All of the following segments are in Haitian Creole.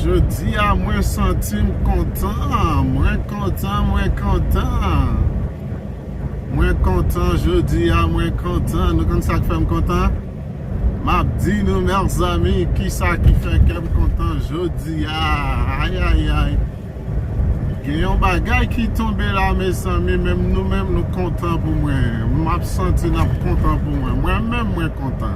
Jodi a mwen santi m kontan, mwen kontan, mwen kontan Mwen kontan jodi a, mwen kontan, nou konn sak fèm kontan? M ap di nou mèzanmi kisa ki fè kèm kontan jodi a, ayayay Gen yon bagay ki tonbe la mezanmi, menm nou menm nou kontan pou mwen, m ap santi n ap kontan pou mwen, mwen menm mwen kontan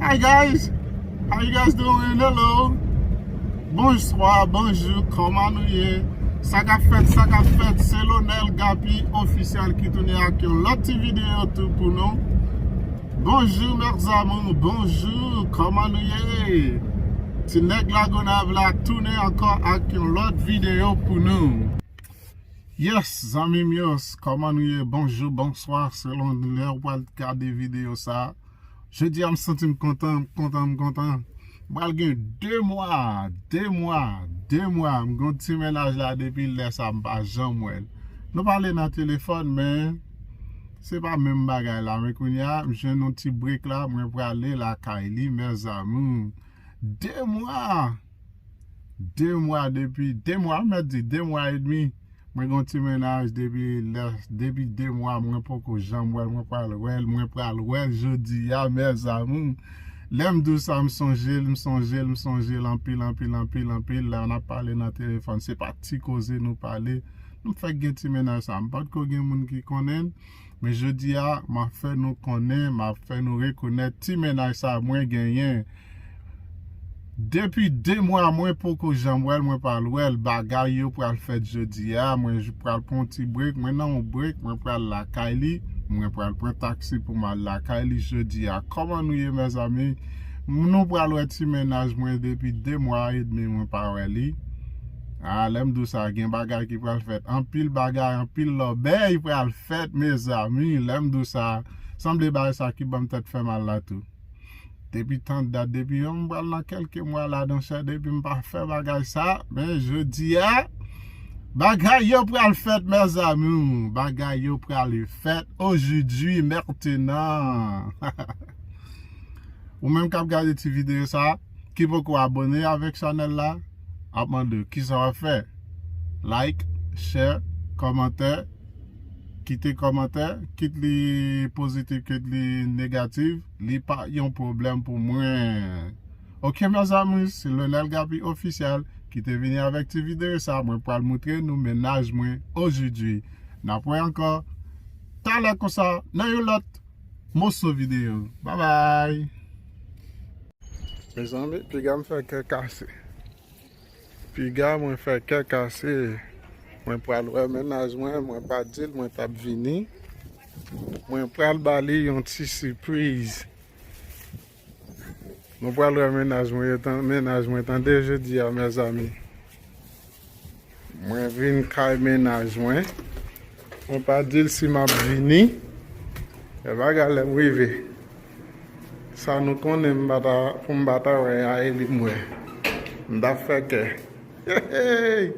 Hi guys how you guys doing hello bonswa bonjou kòman nou ye sa kap fèt sa kap fèt se Lonel Gapi official ki tounen ak yon lòt ti video tou pou nou bonjou mes amours bonjou kòman nou ye ti nèg la Gonaive la tounen ankò ak yon lòt video pou nou yes zanmim yo kòman nou ye bonjou bonswa selon lè ou pral gade video sa. Jodi a m santi m kontan, m kontan, m kontan. M pral gen 2 mwa, 2 mwa, 2 mwa. M gen yon ti mennaj la depi lè sa m pa janm wè l. Nou pale nan telefòn men se pa menm bagay la. Men kounye a m jwenn yon ti break la mwen prale lakay li mes amours. 2 mwa! 2 mwa depi 2 mwa mèt di 2 mwa edmi mwen gen yon ti mennaj depi lè depi 2 mwa mwen poko janm wèl mwen pral wèl mwen pral wèl jodia mes amour lèm diw sa m sonjel m sonjel m sonjel anpil anpil anpil anpil la nap pale nan telefòn se pa ti koze nou pale nou fèk gen ti mennaj sa m patko gen moun ki konnenl. Men jodi a, m ap fè nou konnen, m ap fè nou rekonèt ti mennaj sa mwen genyen. Depi 2 mwa mwen poko janm wè l, mwen pral wè l. Bagay yo pral fèt jodi a, mwen pral pran yon ti brek, mwen nan yon brek, mwen pral lakay li. Mwen pral pran taksi pou m al lakay li jodi a. Kòman nou ye mezanmi? Nou pral wè ti mennaj mwen depi 2 mwa edmi mwen pa wè li. Haa lèm diw sa gen bagay ki pral fèt anpil bagay anpil lòbèy pral fèt mezanmi lèm diw sa sanble bagay sa ki banm tèt fèmal la tou depi tant dat depi yon m pral nan kelke mwa la dan chè depi m pa fè bagay sa men jodia bagay yo pral fèt mezanmi bagay yo pral fèt ojudwi mètenan haha ou menm kap gade ti video sa ki poko abone avèk chanèl la. ap mande w kisa wap fè like chè kòmantè kite kòmantè kit li pozitif kit li negatif li pa yon pwoblèm pou mwen ok mes amours se Lonel Gaby officiel ki te vini avèk ti video sa mwen pral moutre nou mennaj mwen ojidwi nap wè ankò talè konsa nan yon lòt moso video babay. Mezanmi piga m fè kè kase. Piga mwen fè kè kase. Mwen pral wè mennaj mwen, mwen pa di l mwen tap vini. Mwen pral ba li yon ti sipriz. Mwen pral wè mennaj mwen tande jodi a mezanmi. Mwen vin kay mennaj mwen. Mwen pa di l si m ap vini. Lè bagay lè m rive. Sa nou konnen m pa ta pou m pa ta wè Yaeli m wè. M ta fè kè. Hehey!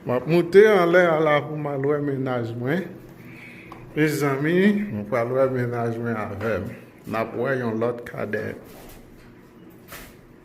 M ap moute anlè a la pou m al wè mennaj mwen. Mezanmi, mwen pral wè mennaj mwen avè m. N ap wè yon lòt kadèt.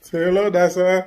Se relò da sa.